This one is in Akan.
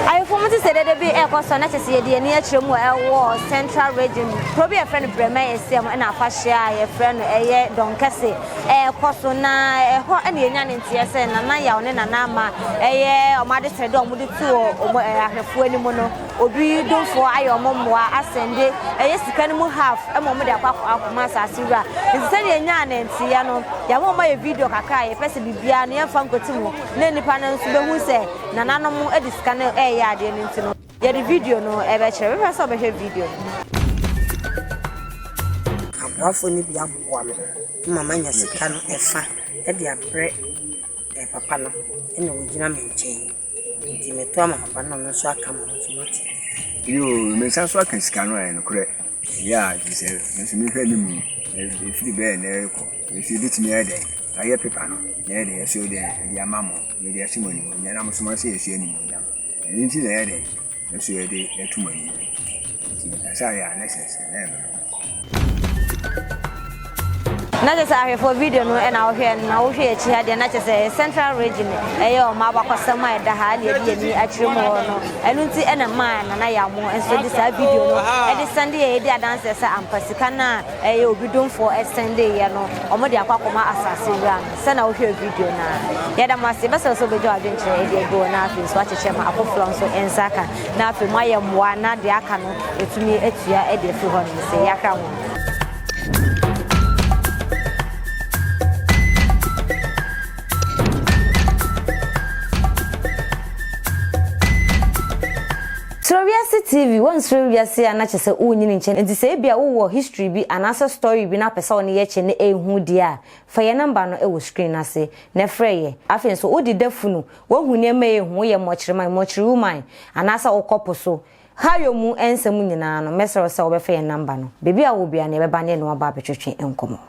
Awifo mu te sɛ dede bi rekɔ so na kyerɛ sɛ yɛde yɛn ani akyerɛ mu a ɛwɔ Central Region mu. Kuro bi a yɛfrɛ no Bremai Asia mu na afahyɛ a yɛfrɛ no ɛyɛ Dɔnkɛse rekɔ so na ɛhɔ na yɛnya ne nteɛ sɛ Nana Yaw ne Nana Ama ɛyɛ wɔn adesrɛde a wɔde to wɔn ahwɛfoɔ anim no obi domfoɔ ayɛ wɔn mmoa asɛn de ɛyɛ sika no mu half ma wɔn de akɔ akɔma asase wura nti sɛdeɛ yɛnyaa ne nteɛ no yɛama wɔn ayɛ video kakra a yɛpɛ sɛ biribiara no yɛmfa nkɔti mu na nnipa no nso bɛhu sɛ Nananom de sika no reyɛ adeɛ no nti no, yɛde video no rebɛkyerɛ. Wobɛpɛ sɛ wobɛhwɛ video no? Aboafoɔ no bi aboa me ma manya sika no ɛfa de abrɛ papa no na wɔgyina me nkyɛn nti meto ama papa no na ɔno nso aka ma nso mate. Yoo, mesan so aka sika no ayɛ nokorɛ. Ɛyɛ a nti sɛ nso mehwɛ ne mu ɛfiri bɛɛ na ɛrekɔ nso ɛbɛtumi ayɛ dɛn ayɛ pepa no na ɛyɛ dɛn ɛso dɛn ɛde ama mo. Yɛde ahyɛ mo animuonyam na mosoma sɛ yɛnsoa animuonyam. Ɛno nti na ɛyɛ dɛn nso yɛde reto mo anim yi? Enti mekasa yɛ a na ɛsɛ sɛ na ɛma no. na kyerɛ sɛ ahwɛfoɔ video no na wohwɛ no na wohwɛ akyi ha deɛ na kyerɛ sɛ central region ɛyɛ ɔma abakɔsɛm a ɛda ha ne ɛde yɛni akyerɛ mu hɔ no ɛno nti ɛna maa nana yamo nso de saa video no ɛde sɛnde yɛ ɛdi adanseɛ sɛ ampa sika no a Ɛyɛ obi domfoɔ sɛndee yɛ no ɔmo de akɔ akɔma asase wura no sɛ na wohwɛɛ video no a yɛda mo ase yɛbɛsrɛ sɛ wobɛgya w'adwenkyerɛ ɛde agu hɔ na afei nso wakyekyɛ ma afoforɔ nso nsa aka na afei mo ayɛ mmoa na deɛ aka no yɛtumi atua ɛde afiri hɔ nom se yɛahra mo. Suro wiase TV, Wonsuro wiase a na kyerɛ sɛ wonyin nkyɛ no nti sɛ ebia wowɔ history bi anaasɛ story bi na wopɛ sɛ wo ne yɛ kyɛ na ɛyɛ hu deɛ a, fa yɛn number no wɔ screen no ase na frɛ yɛ. Afei nso wode da funu, woahu nneɛma a ɛyɛ hu, woyɛ mmɔkyerema, mmɔkyere woman, anaasɛ wokɔ po so ha yɔ mu nsɛm nyinaa no, mɛsrɛ wo sɛ wobɛfrɛ yɛn number no. Baabi a wowɔ biara no yɛbɛba ne yɛne wo aba abɛtwetwe nkɔmmɔ.